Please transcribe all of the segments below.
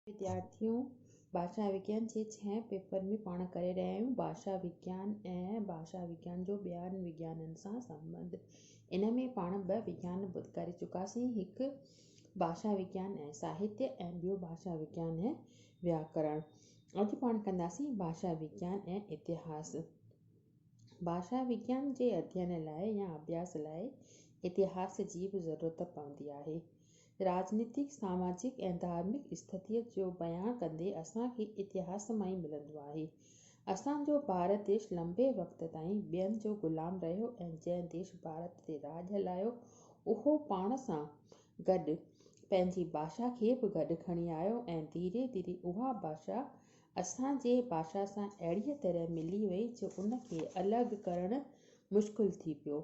وديارٿيون ڀاشا وگيان جي ڇهين پيپر ۾ پاڻ ڪري رهيا آهيون. ڀاشا وگيان ۽ ڀاشا وگيان جو ٻين وگيانن سان سنٻنڌ. ان ۾ پاڻ ٻه وگيان ڪري چڪاسين، هڪ ڀاشا وگيان ۽ ساهتيه ۽ ٻيو ڀاشا وگيان ۽ وياڪرڻ. اڄ پاڻ ڪنداسين ڀاشا وگيان ۽ اتهاس. ڀاشا وگيان جي اڌين لاء يا اڀياس لاء اتهاس جي به ضرورت پوندي آهي. راڄنيتڪ، ساماجڪ ۽ ڌارمڪ استٿيء جو بيان ڪندي اسان کي اتهاس مان ئي ملندو آهي. اسان جو ڀارت ديش لنبي وقت تائين ٻين جو غلام رهيو ۽ جنهن ديش ڀارت تي راڄ هلايو اهو پاڻ سان گڏ پنهنجي ڀاشا کي به گڏ کڻي آيو ۽ ڌيري ڌيري اها ڀاشا اسان جي ڀاشا سان اهڙيء طرح ملي وئي جو ان کي الڳ ڪرڻ مشڪل ٿي پيو.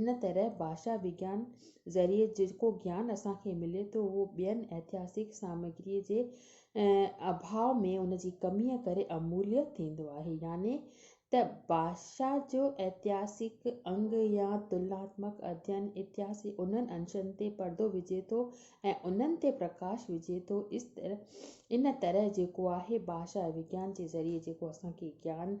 ان طرح ڀاشا وگيان ذريعي جيڪو گيان اسان کي ملي ٿو اهو ٻين اتهاسڪ سامگري جي اڀاء ۾ ان جي ڪمي ڪري امليء ٿيندو آهي يعني ته ڀاشا جو اتهاسڪ انگ يا تلناتمڪ اڌين اتهاس جي انهن انشن تي پردو وجهي ٿو ۽ انهن تي پرڪاش وجهي ٿو ان طرح جيڪو آهي ڀاشا وگيان جي ذريعي جيڪو اسان کي گيان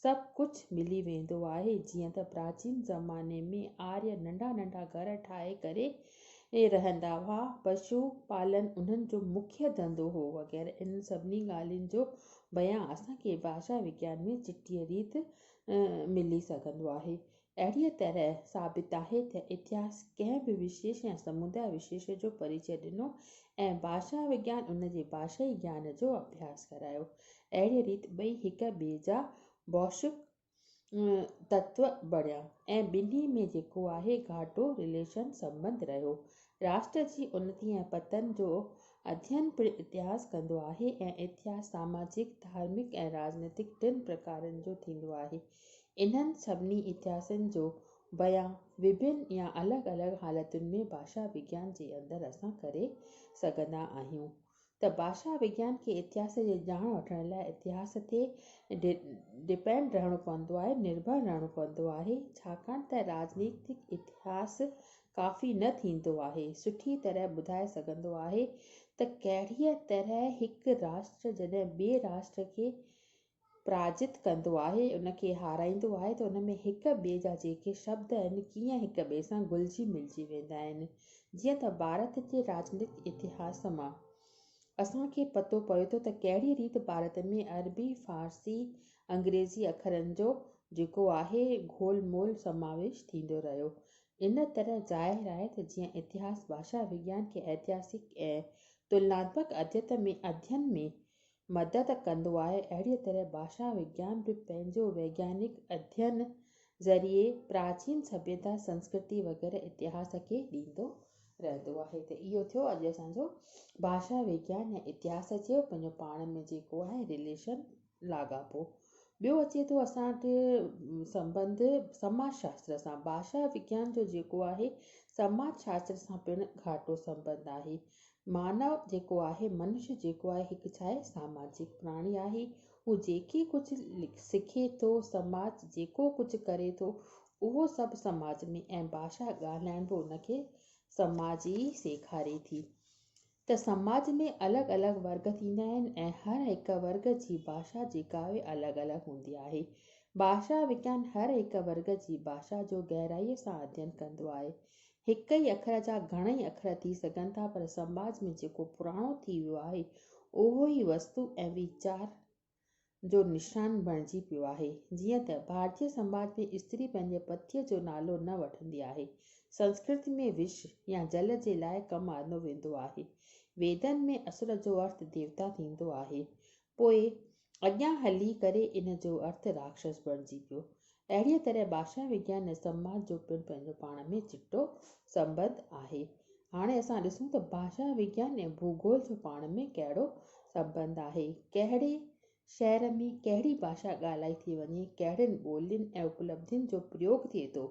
سڀ ڪجهه ملي ويندو آهي جيئن ته پراچين زماني ۾ آريه ننڍا ننڍا گهر ٺاهي ڪري رهندا هئا پشو پالن انهن جو مکيه ڌنڌو هو وغيره انهن سڀني ڳالهين جو بيان اسان کي ڀاشا وگيان ۾ چٽيء ريت ملي سگهندو آهي اهڙيء طرح ثابت آهي ته اتهاس ڪنهن به وشيش يا سموداء وشيش جو پريچئه ڏنو ۽ ڀاشا وگيان ان جي ڀاشائي گيان جو اڀياس ڪرايو. اهڙيء ريت ٻئي هڪ ٻئي جا بوشڪ تتو بڻيا ۽ ٻنهي ۾ جيڪو آهي گهاٽو Relation، سنٻنڌ، رهيو. راشٽر جي انتي ۽ پتن جو اڌين پڻ اتهاس ڪندو آهي ۽ اتهاس ساماجڪ، ڌارمڪ ۽ راڄنيتڪ ٽن پرڪارن جو ٿيندو آهي. انهن سڀني اتهاسن جو بيان وڀن يا الڳ الڳ حالتن ۾ ڀاشا وگيان جي اندر اسان ڪري سگهندا آهيون ته ڀاشا وگيان کي اتهاس جي ڄاڻ وٺڻ لاء اتهاس تي ڊپينڊ رهڻو پوندو آهي، نرڀر رهڻو پوندو آهي، ڇاڪاڻ ته راجنيتڪ اتهاس ڪافي نه ٿيندو آهي سٺي طرح ٻڌائي سگهندو آهي ته ڪهڙيء طرح هڪ راشٽر جڏهن ٻئي راشٽر کي پراجت ڪندو آهي، ان کي هارائيندو آهي ته ان ۾ هڪ ٻئي جا جيڪي شبد آهن، ڪيئن هڪ ٻئي سان گهلجي ملجي ويندا آهن. جيئن ته ڀارت جي راڄنيتڪ اتهاس مان اسان کي پتو پوي ٿو ته ڪهڙي ريت ڀارت ۾ عربي، فارسي، انگريزي اکرن جو جيڪو آهي گهول مول سماويش ٿيندو رهيو. ان طرح ظاهر آهي ته جيئن اتهاس ڀاشا وگيان کي ائتهاسڪ ۽ تلناتمڪ اديت ۾ اڌين ۾ مدد ڪندو آهي، اهڙيء طرح ڀاشا وگيان به پنهنجو ويگيانڪ اڌين ذريعي پراچين سڀيتا، سنسڪرتي وغيره اتهاس کي ڏيندو رهندو آهي ته اهو ٿيو اڄ اسان جو ڀاشا وگيان يا اتهاس چيو پنهنجو پاڻ ۾ جيڪو آهي رليشن لاڳاپو. ٻيو اچي ٿو اسان وٽ سنبنڌ سماج شاستر سان، ڀاشا وگيان جو جيڪو آهي سماج شاستر سان پڻ گهاٽو سنبنڌ آهي، مانو جيڪو آهي، منش جيڪو آهي، هڪ ڇا آهي؟ ساماجڪ پراڻي آهي. هو جيڪي ڪجهه سکي ٿو، سماج جيڪو ڪجهه ڪري ٿو، اهو سڀ سماج ۾ ۽ ڀاشا ڳالهائڻ به ان کي سماج ئي سيکاري ٿي ته سماج ۾ الڳ الڳ ورگ ٿيندا آهن ۽ هر هڪ ورگ جي ڀاشا جيڪا آهي الڳ الڳ هوندي آهي. ڀاشا وگيان هر هڪ ورگ جي ڀاشا جو گهرائيء سان اڌين ڪندو آهي. هڪ ئي اکر جا گهڻئي اکر ٿي سگهن ٿا پر سماج ۾ جيڪو پراڻو ٿي ويو آهي اهو ئي وستو ۽ ويچار جو نشان بڻجي پيو آهي. جيئن ته ڀارتي سماج ۾ استري پنهنجي پتيء جو نالو نه وٺندي آهي. سنسڪرت ۾ وش يا جل جي لاء ڪم آندو ويندو آهي. ويدن ۾ اسور جو ارٿ ديوتا ٿيندو آهي. پوء اڳيان هلي ڪري ان جو ارٿ راڪشس بڻجي پيو. اهڙيء طرح ڀاشا وگيان ۽ سنواد جو پڻ پنهنجو پاڻ ۾ چٽو سنٻنڌ آهي. هاڻي اسان ڏسون ته ڀاشا وگيان ۽ ڀوڳول جو پاڻ ۾ ڪهڙو سنٻنڌ آهي. ڪهڙي شهر ۾ ڪهڙي ڀاشا ڳالهائي ٿي وڃي، ڪهڙين ٻولين ۽ اپلبڌين جو پريوڳ ٿئي ٿو،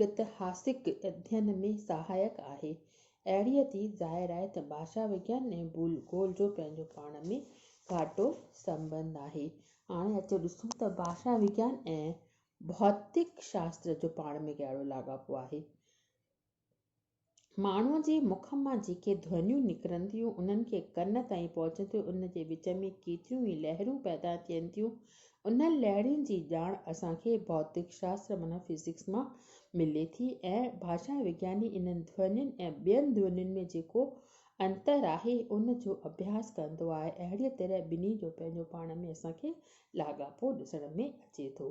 گتهاسڪ اڌين ۾ سهائڪ آهي. اهڙيء تي ظاهر آهي ته ڀاشا وگيان ۽ ڀولگول جو پنهنجو پاڻ ۾ گهاٽو سنٻنڌ آهي. هاڻي اچو ڏسون ته ڀاشا وگيان ۽ ڀوتڪ شاستر جو پاڻ ۾ ڪهڙو لاڳاپو آهي. ماڻهوء جي مک مان جيڪي ڌونيون نڪرن ٿيون، انهن کي ڪن تائين پهچندي ان جي وچ ۾ ڪيتريون ئي لهرون پيدا ٿين ٿيون. انهن لهرين جي ڄاڻ اسان کي ڀوتڪ شاستر معنيٰ فزڪس مان ملي ٿي ۽ ڀاشا وگياني انهن ڌونين ۽ ٻين ڌونين ۾ جيڪو انتر آهي، ان جو اڀياس ڪندو آهي. اهڙيء طرح ٻنهي جو پنهنجو پاڻ ۾ اسان کي لاڳاپو ڏسڻ ۾ اچي ٿو.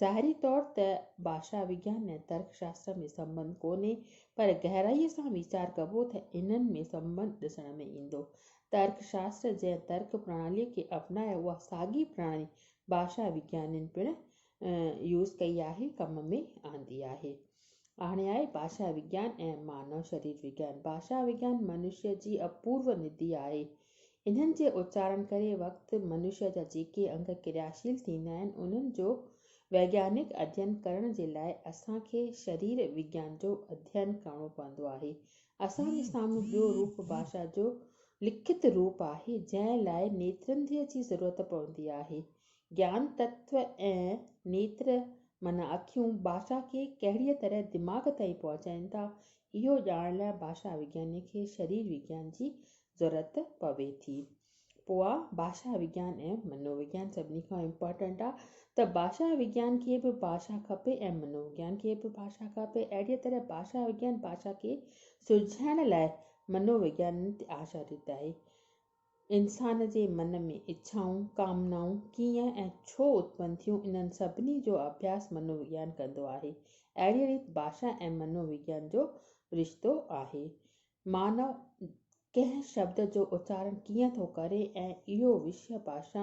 ظاهري طور ته ڀاشا وگيان ۽ ترڪ شاستر ۾ سنٻنڌ ڪونهي، پر گهرائيء سان ويچار ڪبو ته انهن ۾ سنٻنڌ ڏسڻ ۾ ايندو. ترڪ شاستر جنهن ترڪ پرڻاليء کي اپنايو، اها ساڳي پرڻالي ڀاشا وگيانين پڻ يوز ڪئي آهي، ڪم ۾ آندي آهي. هاڻي آهي ڀاشا وگيان ۽ مانو شرير وگيان. ڀاشا وگيان منشيء جي اپورو ندي آهي. انهن جي اچارڻ ڪري وقت منشيا جا جيڪي انگ ڪرياشيل ٿيندا آهن انهن جو ويگيانڪ اڌين ڪرڻ جي لاء اسان کي شرير وگيان جو اڌين ڪرڻو پوندو آهي. اسان جي سامهون ٻيو روپ ڀاشا جو لکت روپ آهي جنهن لاء نيترنڌيء جي ضرورت پوندي آهي. گيان تتو ۽ نيتر معنيٰ اکيون ڀاشا کي ڪهڙيء طرح دماغ تائين پهچائين ٿا اهو ڄاڻڻ لاء ڀاشا وگياني کي شرير وگيان جي ضرورت پوي ٿي پوء ڀاشا وگيان ۽ منو وگيان سڀني کان امپارٽنٽ آ ته ڀاشا وگيان کي به ڀاشا کپي ۽ منو وگيان کي به ڀاشا کپي اهڙي طرح ڀاشا وگيان ڀاشا کي سلجهائڻ لاء منو وگيان تي آشاريت آهي انسان جي من ۾ اڇائون ڪامنائون ڪيئن ۽ ڇو اتپن ٿيون انهن سڀني جو اڀياس منو وگيان ڪندو آهي اهڙي ريت ڀاشا ۽ منو وگيان جو رشتو آهي مانو ڪنهن شبد جو اچارڻ ڪيئن ٿو ڪري ۽ اهو وشيه ڀاشا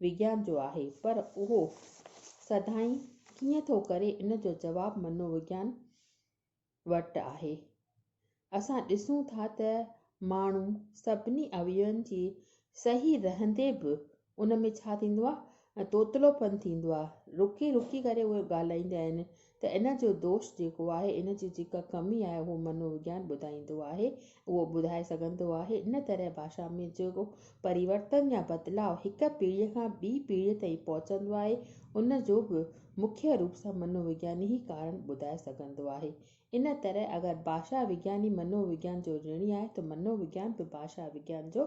وگيان جو آهي پر اهو سڌائين ڪيئن ٿو ڪري ان جو جواب منووگيان وٽ آهي. اسان ڏسون ٿا ته ماڻهو سڀني اويون جي صحيح رهندي به ان ۾ ڇا ٿيندو آهي ۽ توتلو پن ٿيندو آهي رڪي رڪي ڪري اهي ڳالهائيندا آهن ته ان جو دوش جيڪو آهي ان جي جيڪا ڪمي آهي اهو منو وگيان ٻڌائيندو آهي اهو ٻڌائي سگهندو آهي ان طرح ڀاشا ۾ جيڪو پريورتن يا بدلاء هڪ پيڙهي کان ٻي پيڙهي تائين پهچندو آهي ان جو به مکيه روپ سان منو وگياني ئي ڪارڻ ٻڌائي سگهندو آهي ان طرح اگر ڀاشا وگياني منو وگيان جو رڻي آهي ته منو وگيان به ڀاشا وگيان جو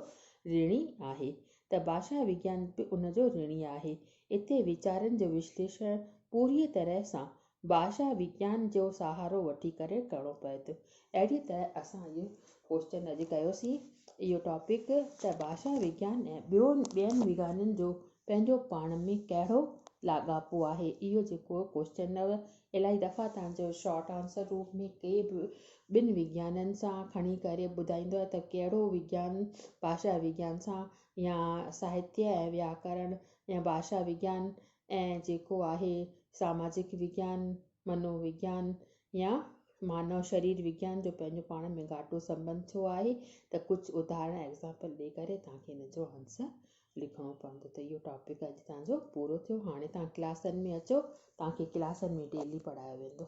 رڻي آهي ته ڀاشا وگيان به ان جو رڻي آهي. اتي ويچارن جو وشليشڻ پوريء طرح سان ڀاشا وگيان جو سهارو وٺي ڪري ڪرڻو پوي ٿو. اهڙيء طرح اسان اهو ڪوئسچن اڄ ڪيو سين، اهو ٽاپڪ، ته ڀاشا وگيان ۽ ٻيون ٻين وگيانن جو پنهنجو پاڻ ۾ ڪهڙو لاڳاپو آهي. اهو جيڪو ڪوئسچن هو، الائي دفعا تان جو شارٽ آنسر روپ ۾ ڪي به ٻن وگيانن سان کڻي ڪري ٻڌائيندو ته ڪهڙو وگيان ڀاشا وگيان سان يا ساهتيه ۽ وياڪرڻ يا ڀاشا وگيان ۽ جيڪو آهي ساماجڪ وگيان، منو وگيان يا مانو شرير وگيان جو پنهنجو پاڻ ۾ گهاٽو سنٻنڌ ڇو آهي ته ڪجهه اداهرڻ، Example، ڏئي ڪري تان کي ان جو آنسر لکڻو پوندو ته اهو ٽاپڪ اڄ توهان جو پورو ٿيو هاڻي توهان ڪلاسن ۾ اچو توهان کي ڪلاسن ۾ ڊيلي پڙهايو ويندو.